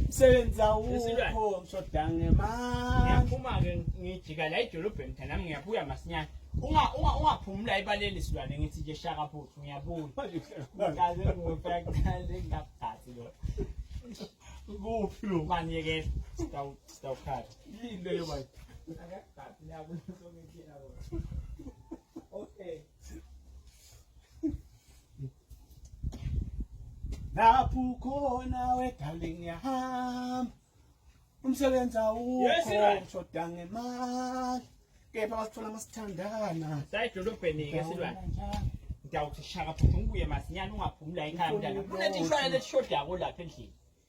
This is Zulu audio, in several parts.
msebenzi awukho ngishoda ngemali ngiyaphuma-ke ngijika la edolobheni mtha nami ngiyabuya masinyane ungaphumula ibaleli silwane ngithi nje shaka futhi ngiyabuya kaze ngifakaze ngingaphathi lo kuphi lo mani yekela sitawukhala yini leyo manje lapho ukhona we darling yahamba umsebenzi awukho ushoda ngemali kepha wasithola masithandana sayidolobheni-ke silwane ngiyawuthi shaka futhi ngibuye masinyane ungaphumi la ekhaya mntana kunetishwana lesishodako lapha endlini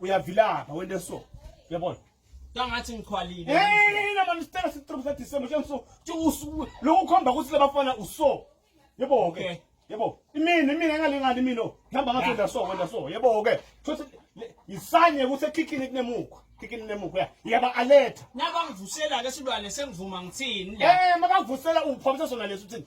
uyavilapha wente so uyabona kangathi ngikhwalile hey nama mistera sitrop sa december nje so nje usuku lokho khomba ukuthi labafana uso yebo ke yebo imini imini engalingani imini ngihamba ngathi wenda so wenda so yebo ke futhi isanye ukuthi ekhikhini kunemukhwa khikini nemukhwa ya yaba alert nabangivusela ke silwane sengivuma ngithini la eh makavusela uphamisa sona leso uthini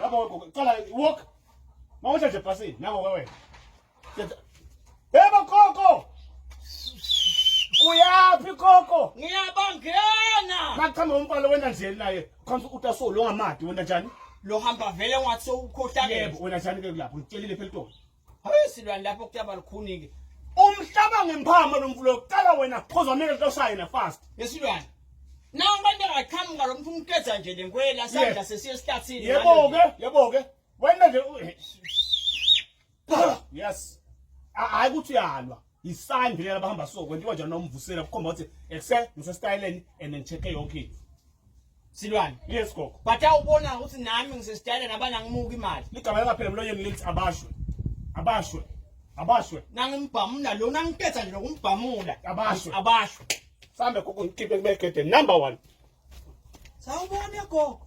Yabo wegogo, cala walk. Mawusha nje bhasini, nango ke wena. Yebo gogo. Uyaphi gogo? Ngiyabangena. Machama umpalo wena nje naye. Khonza utaso lo ngamadi wena njani? Lo hamba vele ngathi sewukhohlakele. Yebo wena njani ke kulapho? Ngitshelile phela uTola. Hayi silwane lapho kutaba lukhunike. Umhlaba ngempama lo mvulo uqala wena phoza mele loshaye na fast. Yesilwane. Nawu abantu angaqhamuka lo mntu umkeza nje le nkwela sandla sesiye esihlathini. Yebo ke, yebo ke. Wena nje yes. Hayi ukuthi uyalwa. yisign vele abahamba so kwentiwa njani nomvusela kukhomba ukuthi ekuse ngisesitayeleni and ngicheck yonke into silwane yes gogo but awubona ukuthi nami ngisesitayeleni abana ngimuka imali ligama lingaphela emlonyeni lithi abashwe abashwe abashwe nangimbhamula lona ngiphetha nje nokumbhamula abashwe abashwe sambe gogo ngikhiphe kubegede number 1 sawubona gogo